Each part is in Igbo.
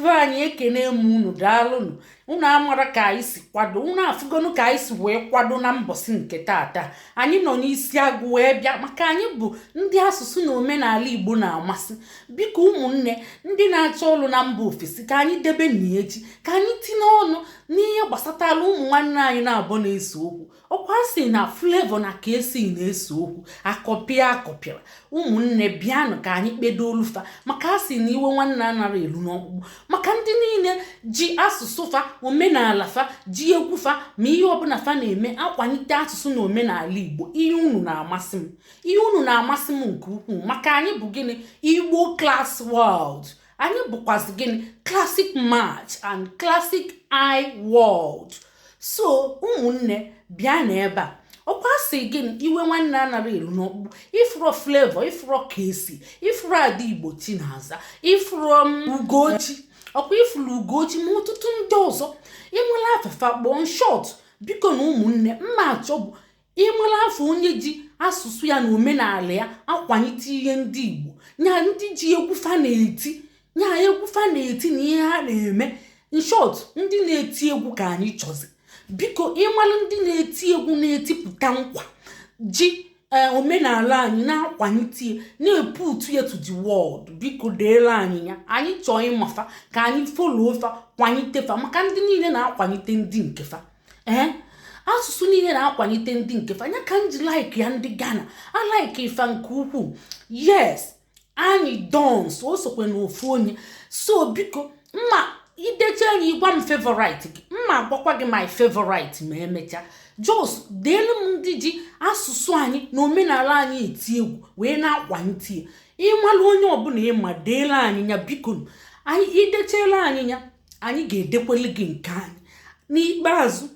be anyị ekene m unu daalụnụ unu amara ka anyị si kwado unu afụgonu ka anyị si wee kwado na mbọsị nke taata anyị nọ n'isi agụ wee bịa maka anyị bụ ndị asụsụ na omenala igbo na-amasị biko ụmụnne ndị na-achọ ọrụ na mba ofesi ka anyị debe n'echi ka anyị tinye ọnụ n'ihe gbasatara ụmụ nwanne anyị naabọ na-ese okwu ọkwa a sị na Flavour na Kcee na-ese okwu akọpịa akọpịara ụmụnne bịanụ ka anyị kpedoolu fa maka a sị na iwe nwanne anara elu n'ọkpụkpụ maka ndị niile ji asụsụ fa omenala fa ji egwu fa ma ihe ọbụla fa na-eme akwalite asụsụ na omenala igbo ihe unu na-amasị m ihe unu na-amasị m nke ukwuu maka anyị bụ gịnị igbo class world anyị bụkwazị gịnị classic match and classic i world so ụmụnne bịa n'ebe a ọkwa a sị gịnị iwe nwanne anara elu n'ọkpụkpụ ị fụrọ Flavour ị fụrọ Kcee ị fụrọ ada igbo Chinaza ị fụrọ Ugochi ọkwa ị fụrụ Ugochi ma ọtụtụ ndị ọzọ ị mala afa fa kpọọ short bikonụ ụmụnne m na-achọ bụ ị mara afa onye ji asụsụ ya na omenala ya akwalite ihe ndị igbo nya ndị ji egwu fa na-eti nya egwu fa na-eti na ihe ha na-eme in short ndị na-eti egwu ka anyị chọzi biko ị mara ndị na-eti egwu na-etipụta nkwa ji e, omenala anyị na-akwalite na-eputu ya to the world biko deere anyị ya anyị chọọ ịma fa ka anyị follow fa kwalite fa maka ndị niile na-akwalite ndị nke fa ee eh? asụsụ niile na-akwalite ndị nke fa nya ka m ji like ya ndị Ghana I like fa nke ukwuu yes Anyidons o sokwe na ofu onye so biko ma i deche anyị ị gwa m favorite gị m ma-agwakwa gị my favorite ma emechaa just deelu m ndị ji asụsụ anyị na omenala anyị eti egwu wee na-akwalite ya ị malụ onye ọbụla ị ma deelu anyị ya biko anyị i dechela anyị ya anyị ga-edekwele gị nke anyị n'ikpeazụ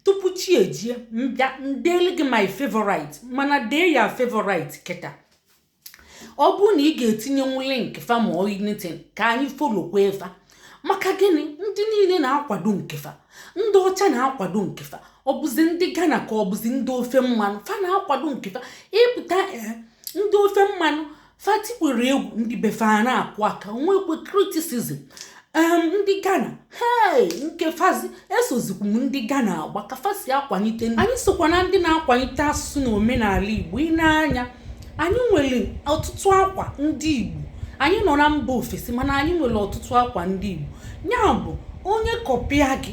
tupu chi ejie m bịa edele gị my favorite mana dee your favorite kịta ọ bụrụ na ị ga-etinyenwu link fa ma ọ anything ka anyị followkwue fa maka gịnị ndị niile na-akwado nke fa ndị ọcha na-akwado nke fa ọ bụzi ndị Ghana ka ọ bụzi ndị ofe mmanụ fa na-akwado nke fa ị pụta eh, ndị ofe mmanụ fa tikwere egwu ndị be fa a na-akụ aka nwekwe criticism ndị Ghana hei nke fazi esozikwu m ndị Ghana agba ka fa si akwalite anyị sokwa na ndị na-akwalite asụsụ na omenala Igbo ị na-anụ ya anyị nwere ọtụtụ akwa ndị Igbo anyị nọ na mba ofesi mana anyị nwere ọtụtụ akwa ndị Igbo ya bụ onye kọpịa gị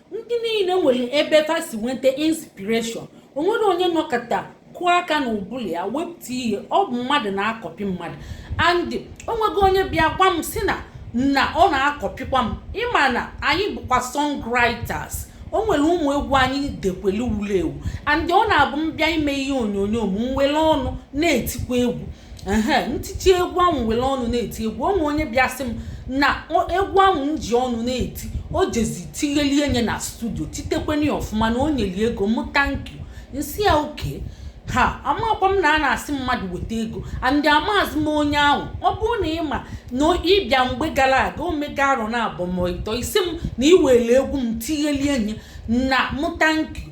ndị niile nwere ebe fa si nweta inspiration o nweghị onye nọkata kụọ aka n'ụbụlụ ya wepụta ihe ọ bụ mmadụ na-akọpị mmadụ and o nwego onye bịa gwa m sị na na ọ na-akọpịkwa m ịma na anyị bụkwa songwriters o nwere ụmụ egwu anyị dekwelu wulu ewu and ọ na-abụ m bịa ime ihe onyonyo m nwere ọnụ na-etikwa egwu ehe m titie egwu ahụ were ọnụ na-eti egwu o nwee onye bịa sị m na egwu ahụ m ji ọnụ na-eti o jezi tighelie nye na studio titekwenye ọfụma na o nyeli ego m thank you m sị ya okay ha amakwa m na a na-asị mmadụ weta ego and amaazị m onye ahụ ọ bụrụ na ịma na ịbịa mgbe gara aga o mego arọ naabọ mọ ịtọ ị sị m na i were egwu m tighelie nye na m thank you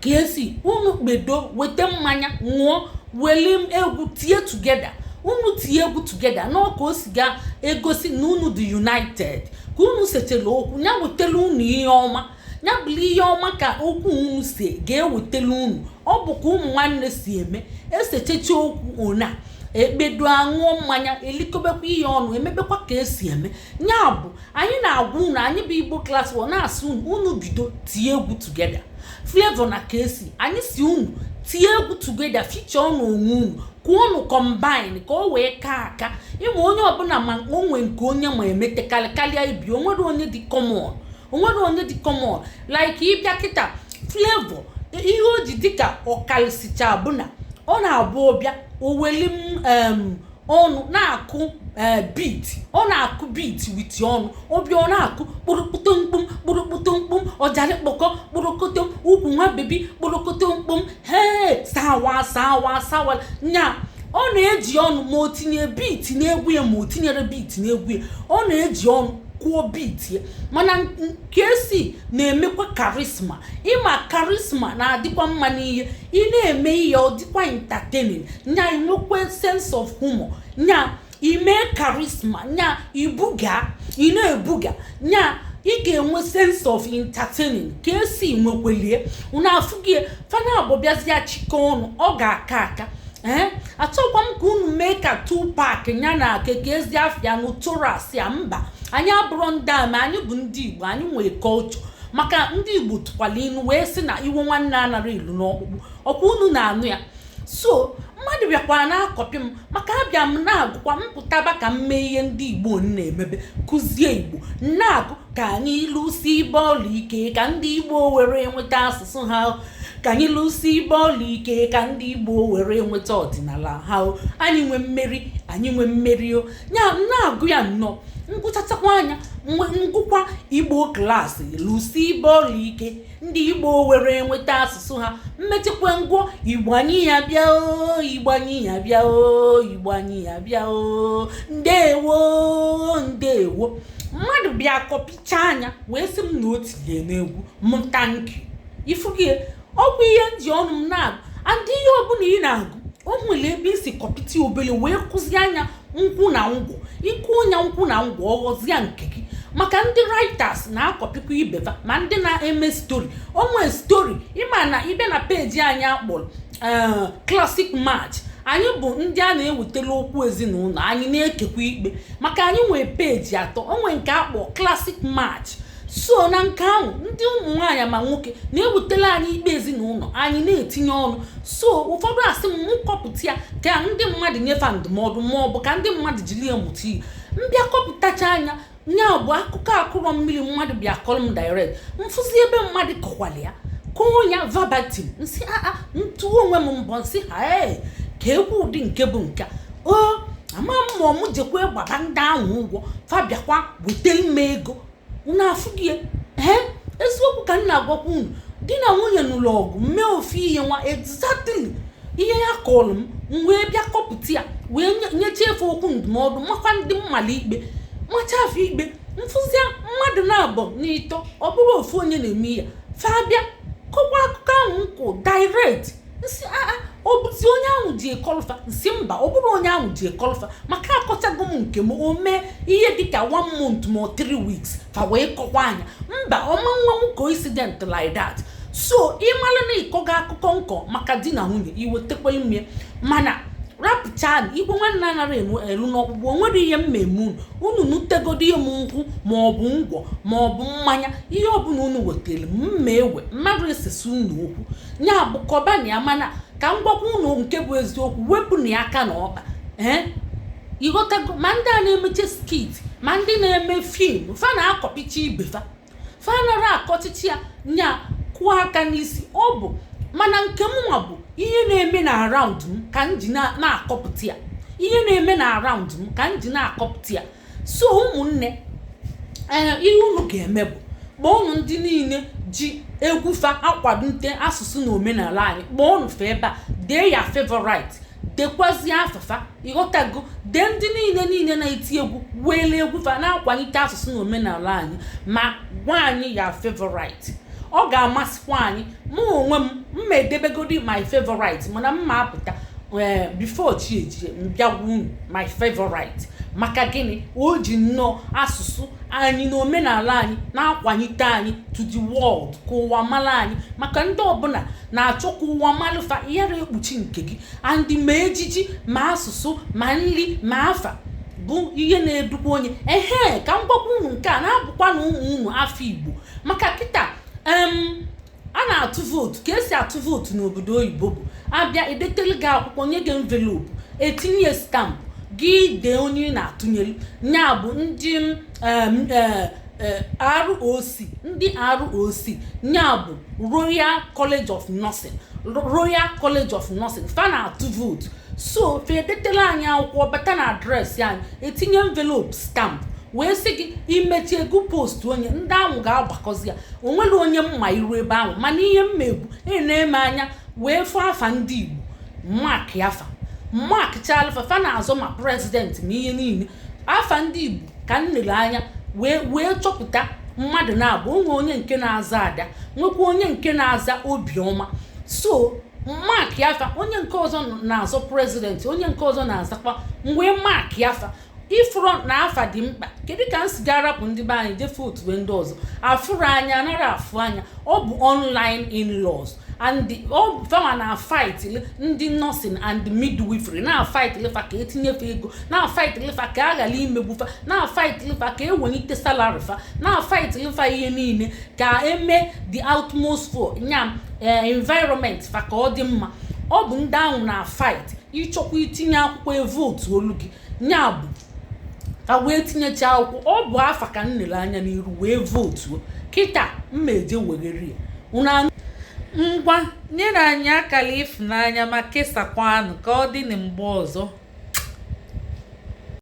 Kcee unu kpedo weta mmanya ṅụọ weli egwu tie together unu tie egwu together na ọ ka o si ga-egosi na unu dị united ka unu setela okwu ya wetela unu ihe ọma ya bụrụ ihe ọma ka okwu unu si ga-ewetela unu ọ bụ ka ụmụ nwanne si eme esechecha okwu ọ naa ekpedo aṅụọ mmanya elikọbekwa ihe ọnụ emebekwa ka esi eme ya bụ anyị na-agwa unu anyị bụ igbo class o na-asị unu unu bido tie egwu together Flavour na Kcee anyị sị unu tie egwu together feature ọnụ onwe unu ka unu combine ka o wee kaa aka ịma onye ọbụla ma o nwe nke onye ma emete karịa ibe o nwerọ onye dị common o nwerọ onye dị common like ịbịa kịta Flavour ihe o ji dịka ọ karịsịcha bụ na ọ na-abụ ọ bịa o weli ọnụ na-akụ eh, beat ọ na-akụ beat with ọnụ ọ bịa ọ na-akụ kpụrụkpụtụ mkpụm kpụrụkpụtụ mkpụm ọjarị kpọkọ kpụrụkụtụ ukwu nwa baby kpụrụkụtụ mkpụm hee sawa sawa sawale nya ọ na-eji ọnụ ma o tinye beat n'egwu ya ma o tinyerọ beat n'egwu ya ọ na-eji ọnụ kụọ beat ya mana Kcee na-emekwa charisma ịma charisma na-adịkwa mma n'ihe ị na-eme ihe ọ dịkwa entertaining nya inwekwa sense of humor nya ime charisma nya ibuga ị na-ebuga nya ị ga-enwe sense of entertaining Kcee nwekwelie unu afụgie fa naabọ bịazịa chịkọọ ọnụ ọ ga-aka aka ee eh? achọkwa m ka unu mee ka Tupac nya na kee ka ezi afa ya Notorious ya mba anyị abụrọ ndị ama anyị bụ ndị igbo anyị nwee culture maka ndị igbo tụkwala inu wee sị na iwe nwanne anarọ elu n'ọkpụkpụ ọkwa unu na-anụ ya so mmadụ bịakwara na-akọpị m maka abịa m na-agụkwa m pụtaba ka m mee ihe ndị igbo na-emebe kụzie igbo na-agụ ka anyị lụsibe ọlụ ike ka ndị igbo were nweta asụsụ ha ka anyị lụsibe ọlụ ike ka ndị igbo were nweta ọdịnala ha anyị nwe mmeri anyị nwe mmeri o ya na-agụ ya nnọọ ngụchatakwa nya ngụkwa igbo klaasị lụsibe ọlụ ike ndị igbo were nweta asụsụ ha mmechikwa ngwọ igbo anyị ya bịa o igbo anyị ya bịa o igbo anyị ya bịa o ndewo ndewo mmadụ bịa kọpicha nya wee sị m na o tinye n'egwu m thank you ị fụ gị e ọ bụ ihe m ji ọnụ m na-agụ and ihe ọbụla ị na-agụ o nwere ebe i si kọpịta obele wee kụzie nya nkwụ na ngwọ ị kụ nya nkwụ na ngwọ ọ ghọzie nke gị maka ndị writers na-akọpịkwa ibe va ma ndị na-eme stori o nwe stori ị ma na ibe na peji anyị akpọrọ eh, classic match anyị bụ ndị a na-ewetara okwu ezinụlọ anyị na-ekpekwa ikpe maka anyị nwee peji atọ o nwe nke a kpọ classic match so na nke ahụ ndị ụmụ nwaanyị ma nwoke na-ewetara anyị ikpe ezinụlọ anyị na-etinye ọnụ so ụfọdụ asị m kọpụta ya ka ndị mmadụ nye fa ndụmọdụ ma ọ bụ ka ndị mmadụ jiri ya mụta ihe m bịa kọpụtachaa nya nya bụ akụkọ a kụrọ mmiri mmadụ bịa kọrọ m direct m fụzi ebe mmadụ kọkwara ya kọọ ya verbatim m sị aa ah, ah, m tụọ onwe m mbọ m sị ha ee ka ekwu ụdị nke bụ nke o ama m ma ọ m jekwa gbaba ndị ahụ ụgwọ fa bịakwa wetara m ego unu afụ gị ee eziokwu ka m na-agwakwa unu di na nwunye nụrụ ọgụ mee ofu ihe nwa exactly ihe ya kọrọ m m wee bịa kọpụta ya wee nyechaa fa okwu ndụmọdụ makwa ndị m mala ikpe machaa fa ikpe m fụzia mmadụ naabọ n'ịtọ ọ bụrọ ofu onye na-eme ya fa bịa kọkwa akụkọ ahụ nkwụ direct m sị aa ọ bụzi onye ahụ jee kọọlụ fa m sị mba ọ bụrọ onye ahụ jee kọọlụ fa maka akọchago m nke m o mee ihe dịka one month ma ọ three weeks fa wee kọkwaa nya mba ọ ma nwe coincident like that so ị mara na ị kọga akụkọ m kọ maka di na nwunye i wetekwara m mana rapụcha iwe nwanne anaghị elu n'ọkpụkpụ o nwerọ ihe m ma-eme unu unu nutegodo ihe m nkwụ ma ọ bụ ngwọ ma ọ bụ mmanya ihe ọbụla unu wetara m m ma-ewe mmadụ esesa unu okwu ya bụ kọbanụ ya mana ka m gwakwa ụnụ nke bụ eziokwu wepụnụ ya aka na ọkpa ee ị ghọtago ma ndị a na-emeche skit ma ndị na-eme film fa na-akọpicha ibe fa fa anara akọchichi ya nya kụọ aka n'isi ọ bụ mana nke mụnwa bụ ihe na-eme na around m ka m ji na-akọpụta ya ihe na-eme na around m ka m ji na-akọpụta ya so ụmụnne ee ihe unu ga-eme bụ kpọọnụ ndị niile ji egwu fa akwalite asụsụ na omenala anyị kpọọnụ fa ebe a dee your favorite dekwazie afa fa ị ghọtago dee ndị niile niile na-eti egwu weele egwu fa na-akwalite asụsụ na omenala anyị ma gwa anyị your favorite ọ ga-amasịkwa anyị mụ onwe m m ma edebegodi my favorite mana m ma apụta eh, before chi ejie m bịa gwa unu my favorite maka gịnị o ji nnọọ asụsụ anyị na omenala anyị na-akwanyite anyị to the world ka ụwa mara anyị maka ndị ọbụla na-achọ ka ụwa malụ fa ị yara ekpuchi nke gị and ma ejiji ma asụsụ ma nri ma afa bụ ihe na-edukwa onye ehe ka m gwakwa unu nke a na-abụkwa na ụmụ unu afọ Igbo maka kịta a na-atụ vootu ka e si atụ vootu n'obodo oyibo bụ a bịa edetele gị akwụkwọ nye gị envelopu e tinye stampụ gị dee onye ị na-atụnyere ya bụ ndị e, e, ROC ndị ROC ya bụ Royal College of Nursing Royal College of Nursing fa na-atụ vootu so fa edetela anyị akwụkwọ ọ bata na adreesị anyị etinye envelope stamp wee sị gị i mechie go postuo nye ndị ahụ ga-agbakọzi ya o nwerọ onye m ma iru ebe ahụ mana ihe m mee bụ enee m anya wee fụ afa ndị Igbo markịa fa markchalụ fa fa na-azọ ma president ma ihe niile afa ndị Igbo ka m nele anya wee chọpụta mmadụ naabọ o nwe onye nke na-aza Ada nwekwa onye nke na-aza Obiọma so markịa fa onye nke ọzọ na-azọ president onye nke ọzọ na-azọkwa m wee markịa fa ị fụrụ na afa dị mkpa kedu ka m si ga-arapụ ndị be anyị jee vootube ndị ọzọ afụrụ anya anara afụ anya ọ bụ online in-laws and fa ma na fight ndị nursing and midwifery na fight lụ fa ka e tinye fa ego na fight lụ fa ka a ghara imegbu fa na fight lụ fa ka e welite salary fa na fight lụ fa ihe niile ka e mee the atmosphere nya eh, environment fa ka ọ dị mma ọ bụ ndị ahụ na fight ị chọkwa itinye akwụkwọ vootu olu gị nya bụ ka m wee tinyecha akwụkwọ ọ bụ afa ka m nele anya n'iru wee vootuo kịta m ma eje weghere ya unu ngwa nyere anyị akara ịfụnanya ma kesaakwanụ ka ọ dị na mgbe ọzọ